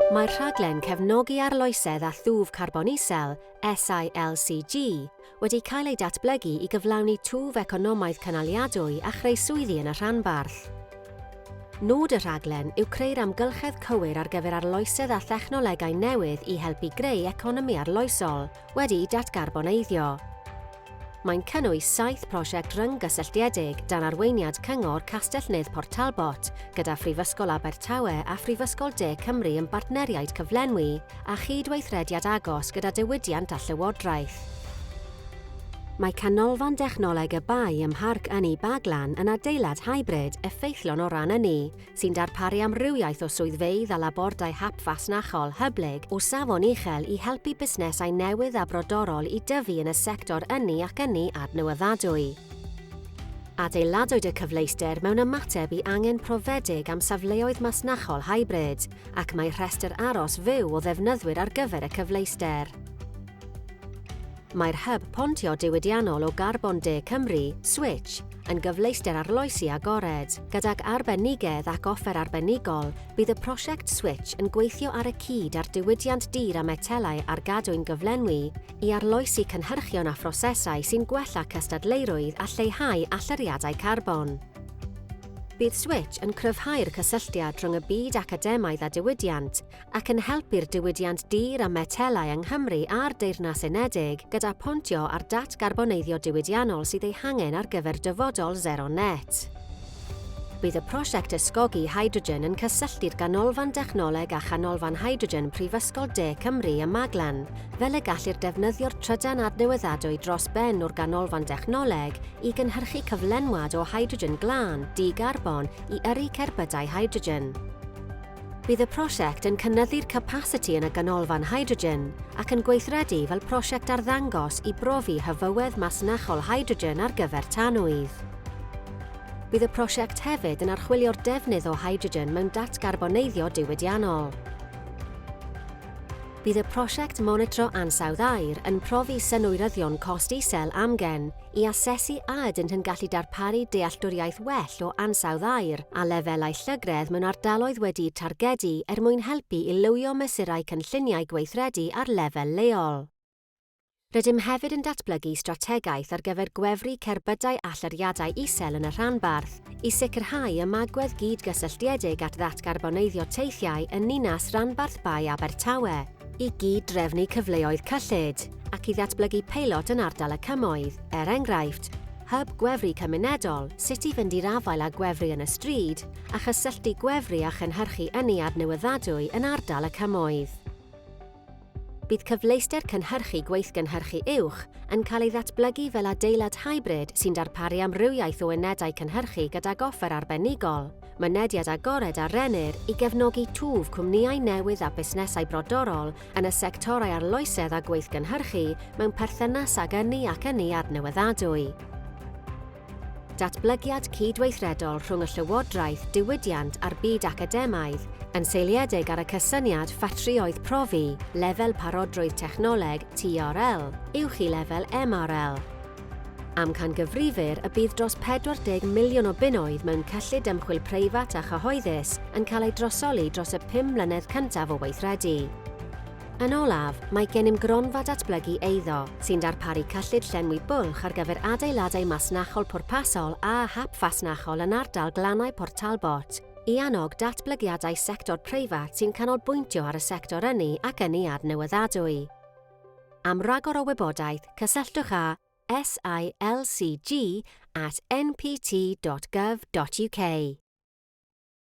Mae'r rhaglen Cefnogi Arloesedd â Thwf Carbon Isel, SILCG, wedi cael ei datblygu i gyflawni twf economaidd cynaliadwy a chreu swyddi yn y rhanbarth. Nod y rhaglen yw creu'r amgylchedd cywir ar gyfer arloesedd â thechnolegau newydd i helpu greu economi arloesol, wedi'u datgarboneiddio. Mae'n cynnwys saith prosiect ryng-gysylltiedig dan arweiniad Cyngor Castell-nedd Port Talbot, gyda Phrifysgol Abertawe a Phrifysgol De Cymru yn bartneriaid cyflenwi a chyd-weithrediad agos gyda diwydiant a llywodraeth. Mae Canolfan Dechnoleg y Bae ym Mharc Ynni Baglan yn adeilad hybrid effeithlon o ran ynni, sy'n darparu amrywiaeth o swyddfeydd a labordai hap fasnachol hyblyg o safon uchel i helpu busnesau newydd a brodorol i dyfu yn y sector ynni ac ynni adnewyddadwy. Adeiladwyd y cyfleuster mewn ymateb i angen profedig am safleoedd masnachol hybrid, ac mae rhestr aros fyw o ddefnyddwyr ar gyfer y cyfleuster. Mae'r Hyb Pontio Diwydiannol o Garbon De Cymru, Switch, yn gyfleuster arloesi agored. Gydag arbenigedd ac offer arbenigol, bydd y prosiect Switch yn gweithio ar y cyd â'r diwydiant dur a metelau ar gadwyn gyflenwi i arloesi cynhyrchion a phrosesau sy'n gwella cystadleurwydd a lleihau allyriadau carbon. Bydd Switch yn cryfhau'r cysylltiad rhwng y byd academaidd a diwydiant, ac yn helpu'r diwydiant dur a metelau yng Nghymru a'r Deyrnas Unedig gyda phontio ar datgarboneiddio diwydiannol sydd ei hangen ar gyfer dyfodol sero net. Bydd y prosiect ysgogi hydrogen yn cysylltu'r Ganolfan Dechnoleg â Chanolfan Hydrogen Prifysgol De Cymru ym Maglan, fel y gellir defnyddio'r trydan adnewyddadwy dros ben o'r Ganolfan Dechnoleg i gynhyrchu cyflenwad o hydrogen glân, di-garbon, i yrru cerbydau hydrogen. Bydd y prosiect yn cynyddu'r capasiti yn y Ganolfan Hydrogen ac yn gweithredu fel prosiect arddangos i brofi hyfywedd masnachol hydrogen ar gyfer tanwydd. Bydd y prosiect hefyd yn archwilio'r defnydd o hydrogen mewn datgarboneiddio diwydiannol. Bydd y prosiect monitro ansawdd aer yn profi synwyryddion cost isel amgen i asesu a ydynt yn gallu darparu dealltwriaeth well o ansawdd aer a lefelau llygredd mewn ardaloedd wedi'u targedu er mwyn helpu i lywio mesurau cynlluniau gweithredu ar lefel leol. Rydym hefyd yn datblygu strategaeth ar gyfer gwefru cerbydau allyriadau isel yn y rhanbarth i sicrhau ymagwedd gyd-gysylltiedig at ddatgarboneiddio teithiau yn ninas-ranbarth Bae Abertawe. i gyd-drefnu cyfleoedd cyllid ac i ddatblygu peilot yn ardal y Cymoedd, er enghraifft, hyb gwefru cymunedol, sut i fynd i'r afael â gwefru yn y stryd, a chysylltu gwefru â chynhyrchu ynni adnewyddadwy yn ardal y Cymoedd. Bydd cyfleuster cynhyrchu gweithgynhyrchu uwch yn cael ei ddatblygu fel adeilad hybrid sy'n darparu amrywiaeth o unedau cynhyrchu gydag offer arbenigol, Mynediad agored a rennir i gefnogi twf cwmnïau newydd a busnesau brodorol yn y sectorau arloesedd a gweithgynhyrchu mewn perthynas ag ynni ac ynni adnewyddadwy. Datblygiad cydweithredol rhwng y llywodraeth, diwydiant a'r byd academaidd, yn seiliedig ar y cysyniad ffatrïoedd profi, lefel parodrwydd technoleg, TRL, uwch i lefel MRL. Amcangyfrifir y bydd dros 40 miliwn o bunnoedd mewn cyllid ymchwil preifat a chyhoeddus yn cael eu drosoli dros y pum mlynedd cyntaf o weithredu. Yn olaf, mae gennym gronfa datblygu eiddo, sy'n darparu cyllid llenwi bwlch ar gyfer adeiladau masnachol pwrpasol a hap fasnachol yn ardal Glannau Port Talbot, i annog datblygiadau sector preifat sy'n canolbwyntio ar y sector ynni ac ynni adnewyddadwy. Am ragor o wybodaeth, cysylltwch â silcg at npt.gov.uk.